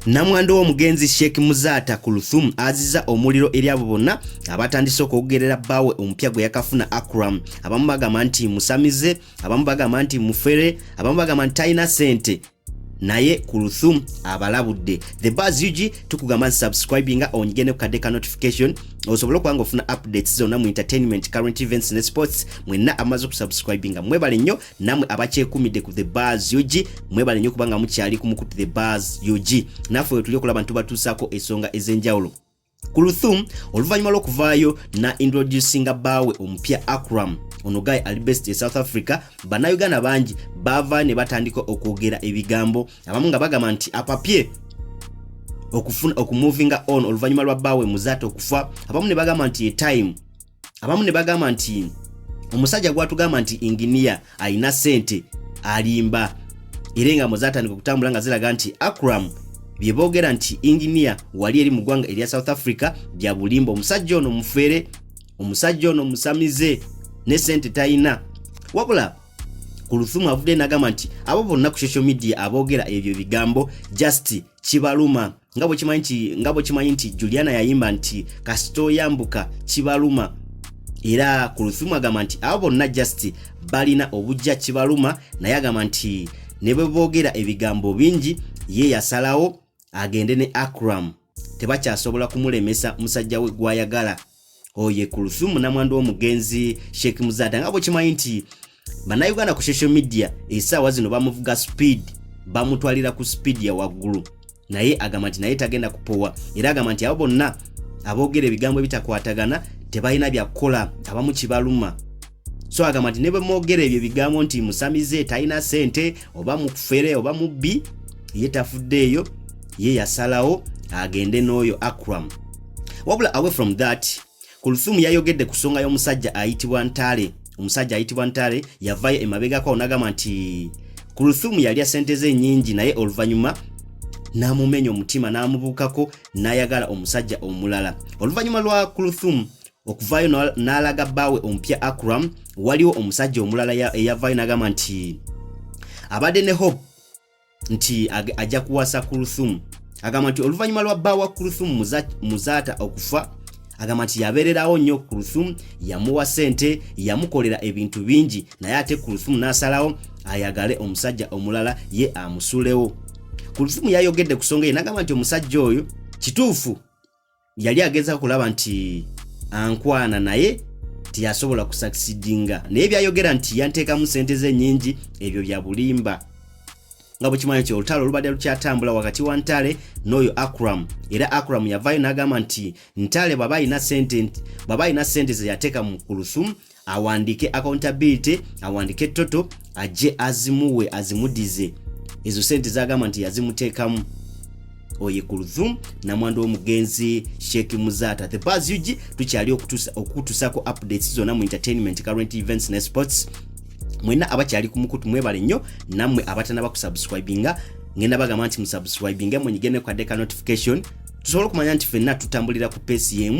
Namwando w'omugenzi Sheikh Muzaata Kuluthum aziza omuliro eri abo bonna abatandise okwogerera bbaawe omupya gwe yakafuna Akram. Abamu bagamba nti musamize, abamu bagamba nti mufere, abamu bagamba nti talina ssente. naye kuluthum abalabudde the bas ug tukugamba nti subscribe nga onyige ne kukadde ka notification osobole okuba nga ofuna updates zonna mu entertainment current events ne sports mwenna amaze okusubscribe nga mwebale nnyo namwe abakyekumidde ku the bas ug mwebale nnyo kubanga mukyali kumukutu the bas ug naffe wetuli okulaba nti tubatuusaako esonga ez'enjawulo Kuluthum oluvannyuma lw'okuvaayo na introducinga bbaawe omupya Akram ono guy ali best e South Africa bannayuganda bangi baava ne batandika okwogera ebigambo abamu nga bagamba nti apapye okufuna okumuvinga on oluvannyuma lwa bbaawe muzaate okufa abamu ne bagamba nti ye time abamu ne bagamba nti omusajja gwatugamba nti inginiya alina sente alimba era engambo zatandika okutambula nga ziraga nti akram byeboogera nti inginiya wali eri mu ggwanga erya south africa bya bulimba omusajja ono mufere omusajja ono musamize ne sente talina wabula kuluthumu avudde nagamba nti abo bonna ku social media aboogera ebyo bigambo just kibaluma nga bwekimanyi nti nga bwekimanyi nti juliana yayimba nti kasita oyambuka kibaluma era ku luthumu agamba nti abo bonna just balina obujja kibaluma naye agamba nti ne bwe boogera ebigambo bingi ye yasalawo agende ne acram tebakyasobola kumulemesa musajja we gwayagala oye kuluthumu namwandu womugenzi sheik muzata nga bwekimanyi nti banauganda ku social media esaawa zino bamuvuga speed bamutwalira ku speed ya waggulu naye agamba nti naye tagenda kupowa era agamba nti abo bonna aboogera ebigambo ebitakwatagana tebalina byakukola abamu kibaluma so agamba nti ne bwe mwogera ebyo ebigambo nti musamize talina sente oba mufere oba mubbi ye tafuddeeyo ye yasalawo agende n'oyo akram wabula away from that kuluthumu yayogedde ku nsonga y'omusajja ayitibwa ntale omusajja ayitibwa ntale yavayo emabegako nagamba nti kuluthumu yalya sente ze nyingi naye oluvannyuma n'amumenya omutima n'amubuukako n'ayagala omusajja omulala oluvannyuma lwa kuluthumu okuvaayo n'alaga bbaawe omupya akram waliwo omusajja omulala eyavaayo n'agamba nti abadde ne hope nti ajja kuwasa kuruthumu agamba nti oluvannyuma lwa bba wa kuruthumu muzaata okufa agamba nti yabeererawo nnyo kuruthumu yamuwa ssente yamukolera ebintu bingi naye ate kuruthumu n'asalawo ayagale omusajja omulala ye amusulewo kuruthumu yayogedde ku songa ye n'agamba nti omusajja oyo kituufu yali ageza kulaba nti ankwana naye tiyasobola kusakisidinga naye byayogera nti yanteekamu sente ze nyingi ebyo bya bulimba nga bwekimanyi nti olutalo olubadde lukyatambula wakati wa ntale n'oyo akram era akram yavaayo n'agamba nti ntale bwaba alina sente zeyateeka mu kulusumu awandiike accountability awandiike toto ajje azimuwe azimudize ezo sente zagamba nti yazimuteekamu oye kulthum namwandu w'omugenzi sheik muzata the bas ug tukyali okukutusako updates zonna mu entertainment current events ne sports mwena abakyali ku mukutu mwebale nnyo nammwe abatanaba kusubscribinga ngenda bagamba nti musubscribinge mwenyigene kwadde ka notification tusobole okumanya nti fenna tutambulira ku pesi yemu